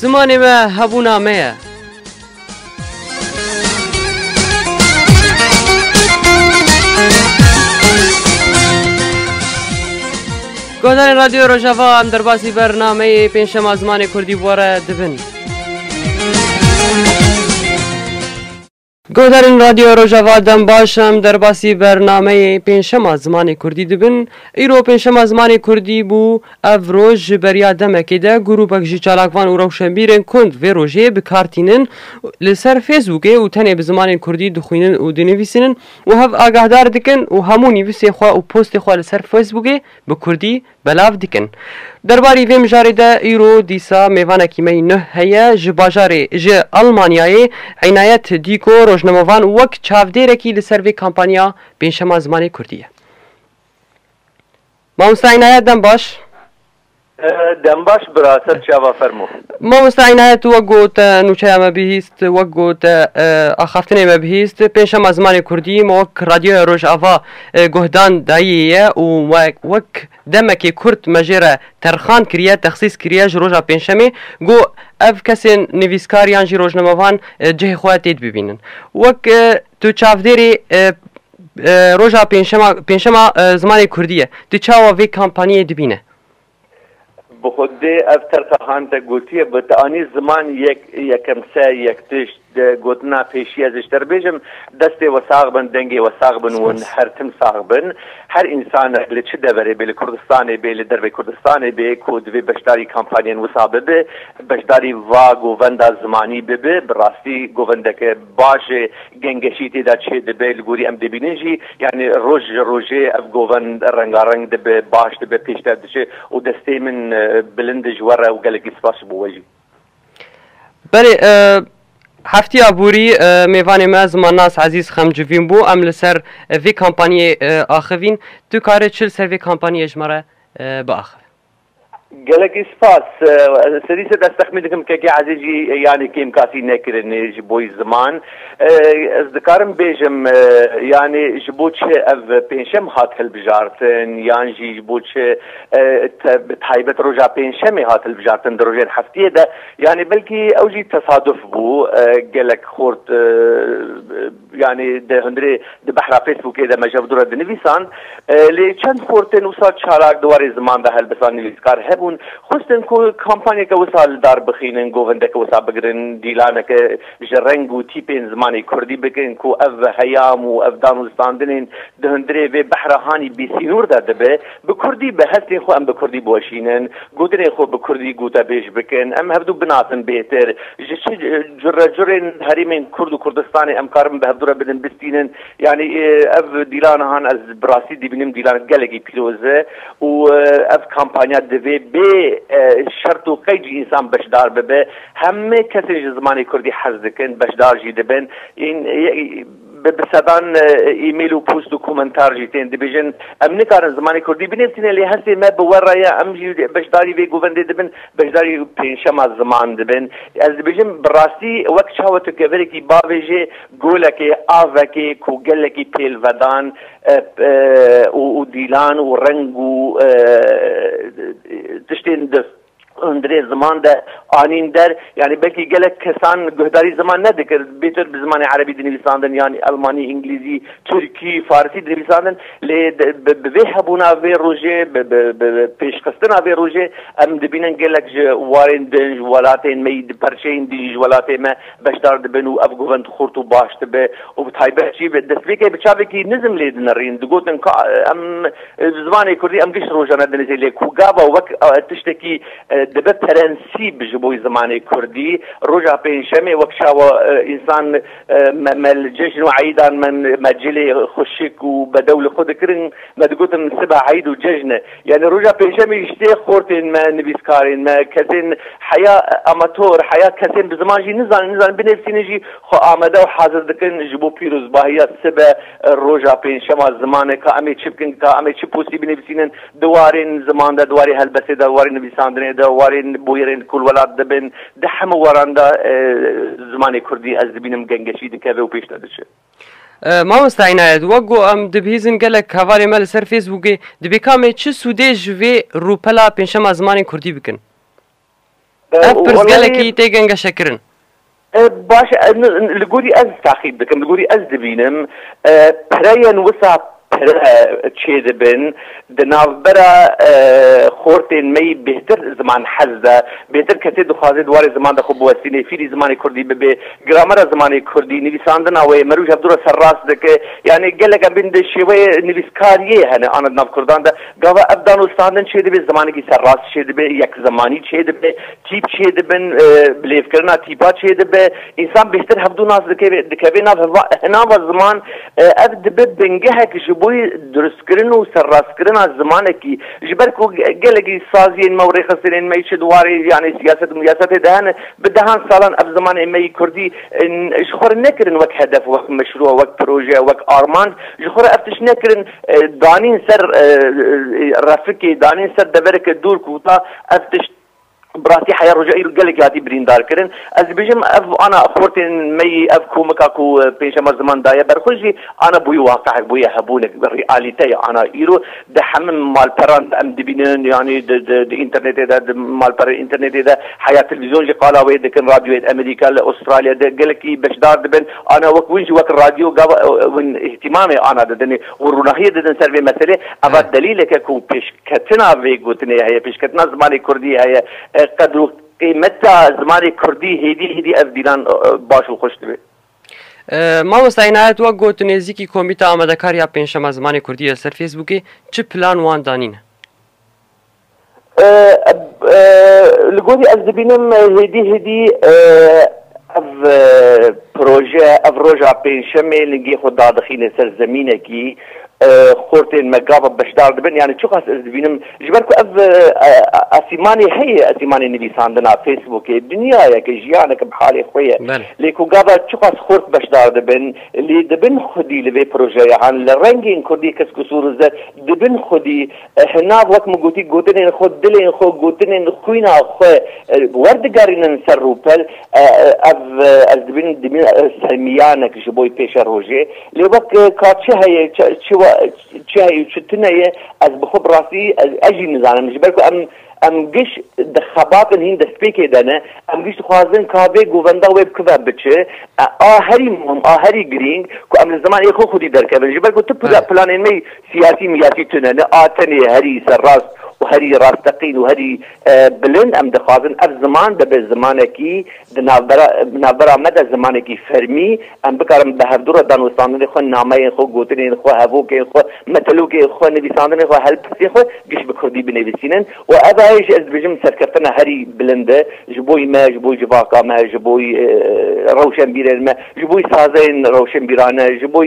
Zimanê me hebûna me ye. Guhdarên Radyo Rojava em derbasî bernameyê pênçşema zimanê Kurdî were dibin. Guhdarên Radyoya Rojava dem baş em derbasî bernameyê pênçşema zimanê kurdî dibin. Îro pênçşema zimanê kurdî bû. Ev roj ji beriya demekê de grûpek ji çalakvan û rewşenbîrên kund vê rojê bi kar tînin li ser fêsbûkê û tenê bi zimanên kurdî dixwînin û dinivîsînin û hev agahdar dikin û hemû nivîsên xwe û postê xwe li ser fêsbûkê bi kurdî belav dikin. Derbarî vê mijarê de îro dîsa mêvanekî me yî nuh heye ji bajarê ji Elmanyayê Înayet Dîko rojnamevan wek çavdêrekî li ser vê kampanya pênçema zimanê kurdî ye. Mamosta Înayet dem baş. Dembaş bira, ser çava fermo. Mamosta Înayet tu wek got nûçeya me bihîst. Wek got axaftinê me bihîst, pênc şema zimanê kurdî me wek Radyoya Rojava guhdan dayî ye û wek demekê kurt me jê re terxan kiriye, texsîs kiriye ji roja pêncşemê ku ev kesên nivîskar yan jî rojnamevan cihê xwe tê dibînin. Wek tu çavdêrê roja pêncşema zimanê kurdî ye, tu çawa vê kampaniyê dibîne? Bi xwedê ev terka han te gotiye bi tu anî ziman yek yekem se yek tişt di gotina pêşî ez ji te re bêjim destê we sax bin dengê we sax bin wan her tim sax bin her însanek li çi deverê bê li Kurdistanê bê li dervê Kurdistanê bê ku divê beşdarî kampanyên wisa bibe beşdarî va govenda zimanî bibe bi rastî govendeke baş ê Gengeşî tê de çê dibe li gorî em dibînin jî yanî roj ji rojê ev goven rengareng dibe, baş dibe, pêşber diçe û destê min bilind e ji we re û gelekî spas ji bo we jî. Belê Heftiya borî mêvanê me Zimannas Ezîz Xemcivîn bû. Em li ser vê kampanyê axivîn. Tu karê çi li ser vê kampanyê ji me re biaxivî? Gelekî spas. Serî ser ez texmîn dikim Kekê Ezîz jî yanî kêmkasî nekirinê ji bo ziman. Ez dikarim bêjim yanî ji bo çi ev pênçem hat hilbijartin yan jî ji bo çi bi taybet roja pênçemê hat hilbijartin di rojên heftiyê de yanî belkî ew jî tesaduf bû gelek xort Yanî di hundirê di behra Facebookê de me ji hev dû re dinivîsan. Lê çend xort tên wisa çalak di warê ziman de helbisa nivîskar hebûn. Xwestin ku kampanyeke wisa li dar bixînin, govindeke wisa bigirin, dîlaneke ji reng û tîpên zimanê kurdî bikin ku ev heyam û ev dan û standinên di hundirê vê behra hanî bêsînûr de dibe. Bi kurdî be, hestên xwe em bi kurdî biweşînin, gotinên xwe bi kurdî gotebêj bikin, em hev dû binasin bêhtir ji çi Curecurên herêmên Kurd û Kurdistanê em karin bi hevdûre bidin bistînin. Yanî ev dîla nihan ez bi rastî dibînim dîla gelekî pîroz e û ev kampanya divê bê şert û qeyd jî însan beşdar bibe. Hemê kesên ji zimanê Kurdî hez dikin beşdar jî dibin. Bi bi sedan e-mail û post û komentar jî tên dibêjin em nikarin zimanê kurdî binivîsîne lê hestê me bi we re ye em jî beşdarî vê govendê dibin beşdarî pênçema ziman dibin. Ez dibêjim bi rastî wek çawa tu kevirekî bavê jê golekê avekê ku gelekî pêlvedan û dîlan û reng û tiştên di hundirê ziman de anîn der yanî belkî gelek kesan guhdarî ziman nedikir bêtir bi zimanê erebî dinivîsandin yanî elmanî îngilîzî tirkî farsî dinivîsandin lê bi vê hebûna vê rojê pêşxistina vê rojê em dibînin gelek ji warên din ji welatên me yî di perçeyên din ji welatê me beşdar dibin û ev govend xurt û baş dibe û bi taybet jî destpêkê bi çavekî nizim lê dinirîn digotin ka em Di zimanê kurdî em giş rojane dinijî lê ku gava wek tiştekî dibe prensîb ji bo zimanê kurdî roja pêncşemê wek çawa însan me me li cejn û eyîdan me me cilê xwe şik û bedew li xwe dikirin me digotin sibe eyd û cejn e yanî roja pêncşemê ji tê xortên me nivîskarên me kesên heya amator heya kesên bi ziman jî nizanin nizanin binivîsînin jî xwe amade û hazir dikin ji bo pîrozbahiya sibe Roja pêncşema zimanê ka emê çi bikin, ka emê çi postî binivîsînin di warên ziman de, di warê helbestê de, di warê nivîsandinê de, warên bûyerên ku li welat de bin, di hemû waran de zimanê kurdî ez dibînim gengeşî dikeve û pêş de diçe. Mamosta Înayet, wek ku em dibihîzin gelek hevalên me li ser Facebookê, dibê ka em ê çi sûdê ji vê rûpela pêncşema zimanê kurdî bikin? Ev pirsgelekî tê gengeşekirin. Baş e, li gorî ez taxîb dikim, li gorî ez dibînim pereyên wisa pere çêdibin di navbera xortên me yî bêhtir ziman hez de, bêhtir kesê dixwaze di warê ziman de xwe biwestînê, fîrî zimanê kurdî bibe, gramera zimanê kurdî, nivîsandina wê, meroj hevdû re serrast dike. Yanî gelek em bên di şêweyê nivîskariyê hene ana di nav kurdan de Gava ev danûstandin çêdibê, zimanekî serrast çêdibê, yekzimanî çêdibê, tîp çêdibin, bilêvkirina tîpa çêdibe, însan bêhtir hevdû nas dikeve dikeve nav heva hina va ziman. Ev dibe bingehek ji bo duristkirin û serrastkirina zimanekî. Ji ber ku gelekî saziyên me û rêxistinên me çi di warê yanê siyaset û miyasetê de hene, bi dehan salan ev zimanê me yî kurdî ji xwe re nekirin wek hedef, wek meşrû, wek proje, wek armanc, ji xwe re ev tişt nekirin. Danîn ser refikê, danîn ser devereke dûr ku ta ev tişt bi rastî heya roja îro gelekî hatî birîndar kirin. Ez dibêjim ev ana xortên me yî, ev komika ku pêncşema ziman daye ber xwe jî ana bûye waqehek, bûye hebûnek, realîte ye ana îro. Di hemû malperan de em dibînin yanî di înternetê de, di malperên înternetê de heya televîzyon jî qala wê dikin, radyoyên Amerîka li Astralya de gelekî beşdar dibin. Ana wek win jî wek radyo gava win îhtîmamê ana didin û rûnahiyê didin ser vê meselê. Eva delîlek e ku pêşketina vê gotinê heye, pêşketina zimanê kurdî heye. Qedr û qîmeta zimanê kurdî hêdî hêdî ev bîran baş û xweş dibe. Mamosta Înayet wek got nêzîkî Komîta Amedekar ya Pêncşema Zimanê Kurdî li ser Fêsbûkê çi plan wan danîne? Li gorî ez dibînim hêdî hêdî ev proje, ev roja pêncşemê lingê xwe dadixîne ser zemînekî, xortên me gava beşdar dibin yanî çiqas ez dibînim ji ber ku ev esîmanê heye esîmanê nivîsandina Facebookê dinyayeke jiyaneke bi halê xwe ye lê ku gava çiqas xort beşdar dibin lê dibin xwedî li vê projeyahan li rengên kurdî kesk û sor û zer dibin xwedî Hinav wek min gotî gotinên xwe, dilên xwe, gotinên xwîna xwe werdigerînin ser rûpel. Ev ez dibînim dimîn sermîyanek ji bo pêşe rojê. Lê wek ka çi heye çi heye û çi tune ye ez bi xwe bi rastî ez jî nizanim. Ji ber ku em Em giş di xebatên hîn destpêkê de ne. Em giş dixwazin ka vê govenda wê bikive biçi. A herî muhim, a herî girîng ku em li ziman ê xwe xwedî derkevin. Ji ber ku tu planên me siyasî miyasî tune ne. A tenê herî serrast û herî rasteqîn û herî bilind em dixwazin ev ziman bibe zimanekî Di navbera me de zimanekî fermî, em bikarin bi hevdu re danûstandinê xwe, nameyên xwe, gotinên xwe, hevokên xwe, metelokên xwe, nivîsandinê xwe, helbestên xwe giş bi kurdî binivîsînin û eva heye jî ez dibêjim serkeftina herî bilind e ji bo me, ji bo civaka me, ji bo rewşenbîrên me, ji bo sazeyên rewşenbîrane, ji bo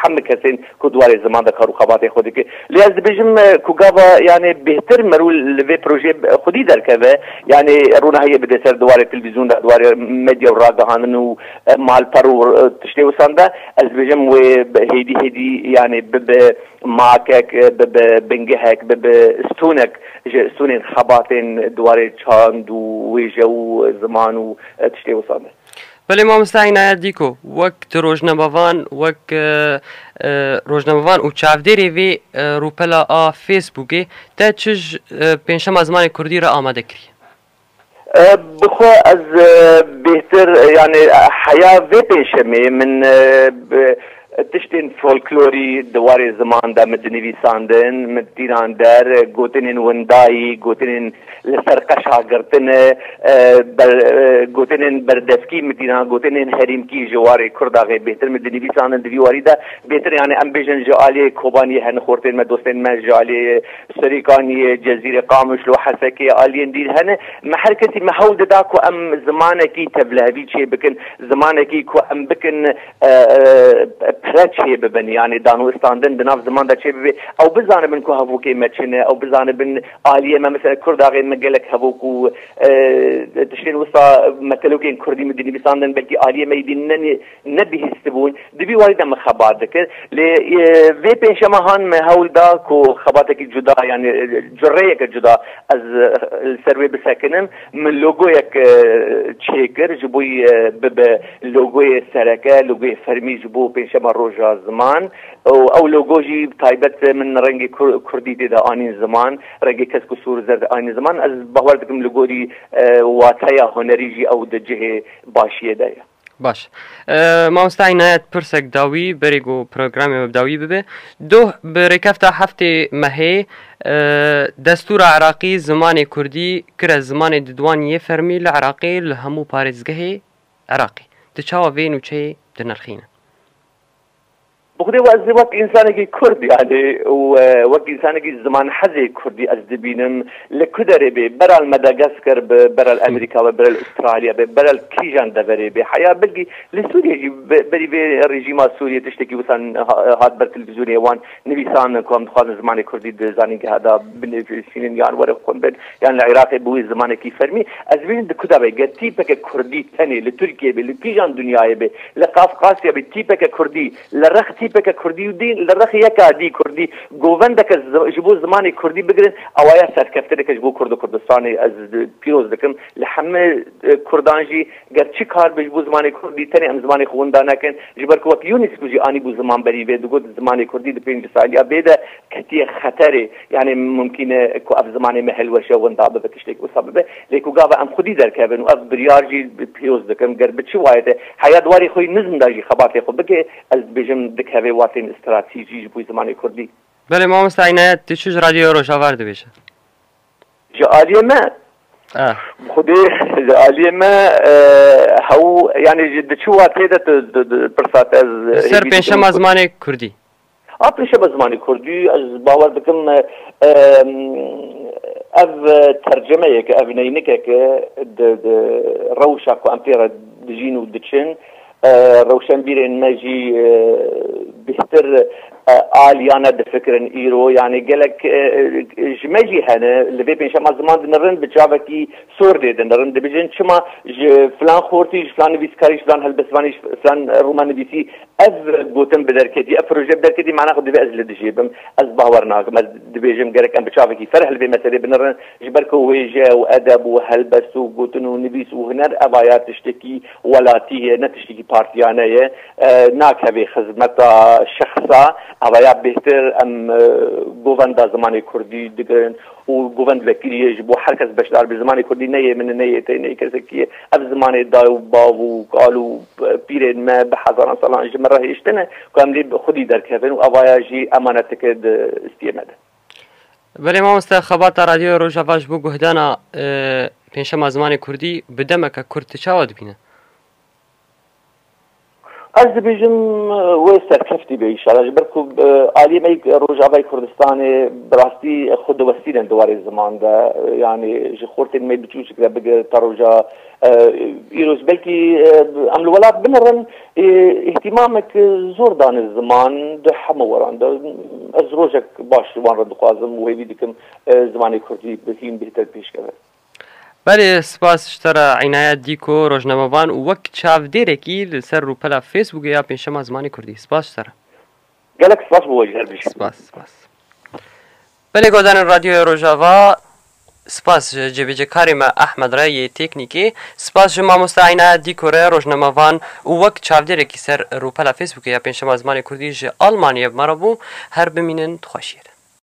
heme kesên ku di warê ziman de kar û xebatên xwe dike. Lê ez dibêjim ku gava yanê bêhtir merû li vê projeyê xwedî derkeve, yanê ronahiyê bide ser di warê televîzyûn de, di warê medya û ragihandin û malper û tiştê wisan de, ez dibêjim wê hêdî hêdî yanê bibe makek, bibe bingehek, bibe stûnek ji stûnên xebatên di warê çand û wêje û ziman û tiştê wisan de. Belê mamosta Inayet Dîko, wek tu rojnamevan, wek rojnamevan û çavdêrê vê rûpela a Facebookê te çij pênçşema zimanê kurdî re amade kirî? Bi xwe ez bêhtir yanî heya vê pênçşemê min Tiştên folklorî di warê ziman de min dinivîsandin, min tînan der, gotinên windayî, gotinên li ser qeşa girtin, gotinên berdevkî min tînan, gotinên herîmkî ji warê Kurda rê bêhtir min dinivîsandin di vî warî de. Bêhtir yanê em bêjin ji aliyê Kobaniyê hene xortên me, dostên me ji aliyê Serêkaniyê, Cezîrê, Qamişlo, Hesekê aliyên dîn hene. Me her kesî me hewl dida ku em zimanekî tevlihevî çêbikin, zimanekî ku em bikin, pere çêbibin yanî danûstandin di nav ziman de çêbibê ew bizanibin ku hevokê me çi ne ew bizanibin aliyê me mesela kurd axê me gelek hevok û tiştên wisa metelokên kurdî min dinivîsandin belkî aliyê me yî nebihîstibûn divî wayî de min xebat dikir lê vê pêncşema han me hewl da ku xebatekî cuda yanî cureyeke cuda ez li ser wê bisekinim Min logoyek çêkir ji bo bibe logoyê sereke, logoyê fermî ji bo pênçema roja ziman û ew logo jî taybet min rengê kurdî tê de anîn ziman, rengê kesk û sor û zerd anîn ziman. Ez bawer dikim li gorî wateya hunerî jî ew di cihê başiyê de ye. Baş. Mamosta Inayet pirsek dawî berê ku programê we bi dawî bibe. Doh bi rêkefta heftê mehê destûra Iraqî zimanê Kurdî kire zimanê di duwan yê fermî li Iraqê li hemû parêzgehê Iraqê. Di çawa vê nûçeyê dinirxîne? Bi xwedê we ez wek însanekî kurd yanî wek însanekî zimanhezê kurdî ez dibînim li ku derê bê bera li Medagasker be, bera li Emerîka be, bera li Ustralya be, bera li kîjan deverê bê heya belkî li Sûriyê jî berî vê rejîma Sûriyê tiştekî wisa hat ber televîzyonê wan nivîsandin ku em dixwazin zimanê kurdî di zanîngeha de binivîsînin yan were xwendin Yan li Iraqê bûye zimanekî fermî. Ez bînim di ku de be. Ger tîpeke kurdî tenê li Tirkiyeyê bê, li kîjan dinyayê bê, li Qafqasya bê, tîpeke kurdî, li rex tîpeke kurdî û dî li rex yeka dî kurdî, govendeke ji bo zimanê kurdî bigirin, ewa ya serkeftineke ji bo Kurd û Kurdistanê. Ez pîroz dikim li hemû kurdan jî ger çi kar be ji bo zimanê kurdî tenê em zimanê xwe winda nekin. Ji ber ku wek UNESCO jî anîbû zimanberî vê digot zimanê kurdî di pênc saliya bê de, ketiye xeterê yanê mumkîn e ku ev zimanê me hilweşe winda bibe tiştêk wisa bibe lê ku gava em xwedî derkevin û ev biryar jî pîroz dikim ger bi çi wayete heya di warê xwe yî nizm de jî xebatê xwe bike ez dibêjim dikeve watên stratîjî ji bo zimanê kurdî. Belê mamosta Înayet tu çi ji radyoya Rojava re dibêje? Ji aliyê me bi xwedê ji aliyê me hew yanê ji di çi watê de tu pirsa te ez hêvî dikim. Li ser pêncşema zimanê kurdî. A pêşe bi zimanê kurdî ez bawer dikim ev tercemeyeke, ev neynikeke di rewşa ku em pê re dijîn û diçin rewşenbîrên me jî bêhtir aliyane difikirin îro yanê gelek ji me jî hene li vê pênçema ziman dinirin bi çavekî sor lê dinirin dibijin çima ji filan xortî ji filan nivîskarî ji filan helbestvanî ji filan rûmenivîsî Ev gotin bi derketî, ev proje bi derketî mana xwe divê ez li dijê bim. Ez bawer nakim. Ez dibêjim gerek em bi çavekî ferh li vê meselê binirin. Ji ber ku wêje û edeb û helbest û gotin û nivîs û huner eva ya tiştekî welatî ye, ne tiştekî partiyane ye. Nakeve xizmeta şexsa. Eva ya bêhtir em govenda zimanê kurdî digirin. û govend vekîlî yê ji bo her kes beşdar bê. Zimanê kurdî ne yê min e, ne yê te yê, ne yê kesekî yê. Ev zimanê dayê û bav û kal û pîrên me bi hezaran salan ji min re hêştine ku em lê bi xwedî derkevin û evaya jî emaneteke di istiyê me de. Belê mamoste, xebata Radyoya Rojava ji bo guhdana pênçşema zimanê kurdî bi demeke kurt çawa dibîne? Ez dibêjim wê serkeftî bê înşala ji ber ku aliyê me yê Rojavayê Kurdistanê bi rastî xwe diwestînin di warê ziman de yanî ji xortên me biçûçik re bigir ta roja îro ji belkî em li welat binirin îhtîmamek zor dane ziman di hemû weran de ez rojek baş ji wan re dixwazim û hêvî dikim zimanê kurdî bi hîn bêhtir pêşkeve. Belê spas ji te re Înayet Dîko, rojnamevan û wek çavdêrekî li ser rûpela Fêsbûkê ya Pênçşema Zimanê Kurdî. Spas ji te re. Gelek spas bo ji her du jî. Spas spas. Belê Godanên Radyoya Rojava, Spas ji cêbêcekarê me Ehmed re yê têknîkê, spas ji mamoste Înayet Dîko re rojnamevan û wek çavdêrekî ser rûpela Fêsbûkê ya Pênçşema Zimanê Kurdî ji Almanyê ev me re bû. Her bimînin di xweşiyê de.